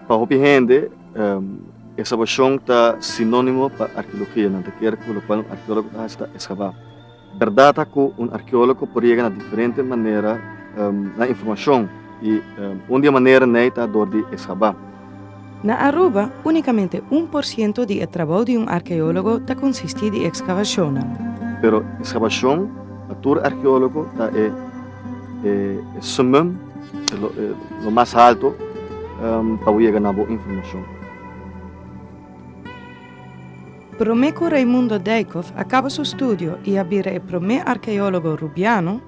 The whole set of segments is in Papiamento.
Pa hopi hende, eskabashon ta sinónimo pa arkeologia. Nan ta kere ku lokual un arkeólogo ta hasi ta eskabá. Bèrdat ta ku un arkeólogo por yega na diferente manera na informashon i un di e manera n'ei ta dor di eskabá. Na Aruba, únikamente un por siento di e trabou di un arkeólogo ta konsistí di ekskavashonnan. Pero ekskavashon pa tur arkeólogo ta e sumum, e lo mas haltu pa bo yega na bo informashon. Promé ku Raimundo Dijkhoff a kaba su studio i a bira e promé arkeólogo Rubiano,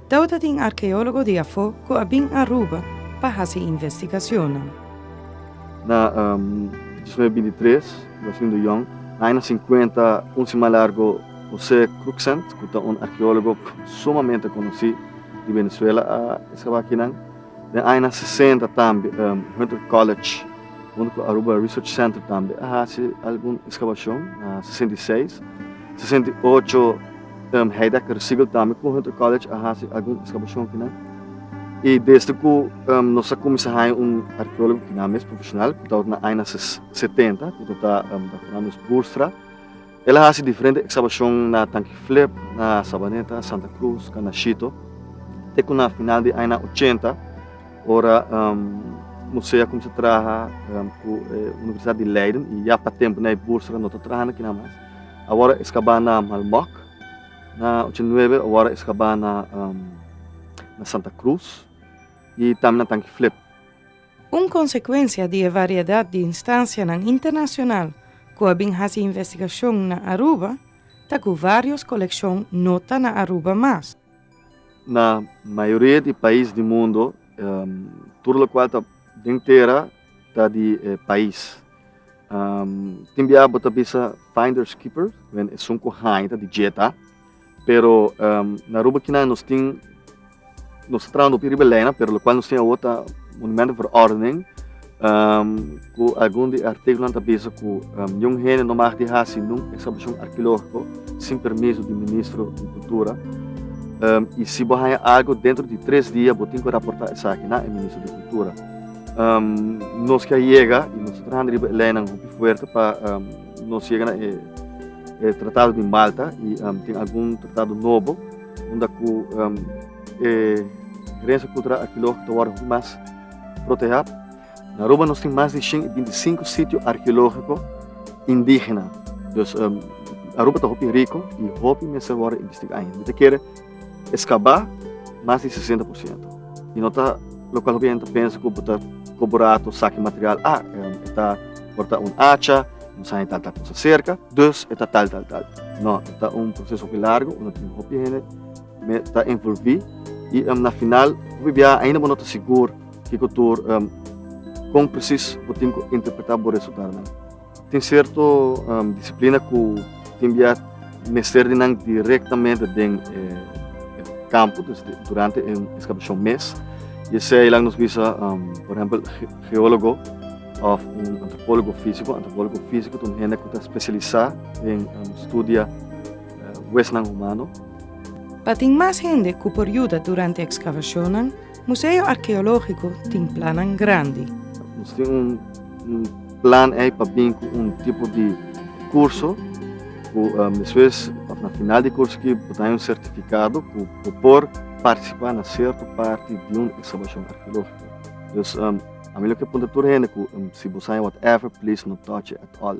Dau ta tin arkeólogo di afó ku a bin Aruba pa hasi investigacionnan. Na dos mil binti tres, Delfin de Jong, na aña sinkuenta, kunsi mas largu José Cruxent, ku ta un arkeólogo sumamente konosí di Venezuela, a eskabá kinan. Den añanan sesenta tambe Hunter College huntu ku Aruba Research Center tambe a hasi algun eskabashon na sesenta i seis, sesenta i ocho. Tem Heidegger y Siegel tambe cu Hunter College a haci algun excavacion kinan. Y desde cu nos a cuminsa haya un arqueologo kinan mes profesional, cu tabata na añanan setenta, cu ta ta Doctor Andres Boerstra, el a haci diferente excavacion na Tanki Flip, na Sabaneta, Santa Cruz, Canashito, te cu na final di añanan ochenta, ora Museo a cuminsa traha cu Universidad di Leiden y ya pa temponan Boerstra no ta trahando kinan mas. Awor eskabá na Malmok, na ocho nuebe awor eskabá na Santa Cruz i tambe na Tanki Flip. Un konsekuensia di e variedat di instansianan internashonal ku a bin hasi investigashon na Aruba ta ku vários kolekshon no ta na Aruba mas. Na mayoria di pais di mundu tur lokual ta den tera Ta di e pais. Tin biaha bo ta bisa finders keepers, wen esun ku haña ta di djeta. Pero na Aruba kinan nos tin, nos ta traha un hopi riba e leynan, pero lokual nos tin awor ta Monumento voor Ordening, ku algun di e artíkulonan ta bisa ku niun hende no mag di hasi niun ekskabashon arkeológiko sin permiso di Ministro di Kultura. I si bo haña algu dentro di tres dia bo tin ku raportá esaki na e Ministro di Kultura. Um, nos ke yega i nos trahando riba e leinan hopi fuerte pa um, nos yega na e, e tratado di Malta i um, tin algun tratado nobo unda ku um, e herencia cultural arqueológico ta word mas proteja. Na Aruba nos tin mas di 25 sitio arqueológico indígena. Dus um, Aruba ta hopi rico i hopi mester word investigado. Mi ta kere E skabá mas di sesenta por siento i no ta lokual hopi hende ta pensa ku bo ta koborato saki material a e ta porta un acha no sabe tal tal kosa serka dus e ta tal tal tal no e ta un proseso hopi largu unda tin hopi hende me ta envolvi i na final hopi biaha ainda bo no ta sigur kiko tur kon presis bo tin ku interpreta bo resultado nan. Tin sierto disiplina ku tin bia mester di nan direktamente den e kampo, dus durante e ekskabashon mes. I esei laga nos bisa, por ehempel, geólogo òf un antropólogo físiko. Antropólogo físiko ta un hende ku ta spesialisá den studia wesnan humano. Pa tin mas hende ku por yuda durante ekskabashonnan, Museo Arkeológiko tin plannan grandi. Nos tin un plan ei pa bin ku un tipo di kurso ku mesmes òf na final di kurso aki bo ta haña un sertifikado ku bo por partisipá na sierto parti di un ekskabashon arkeológiko. Dus ami lo ke puntra tur hende ku si bo sa haña whatever please no touch it at all.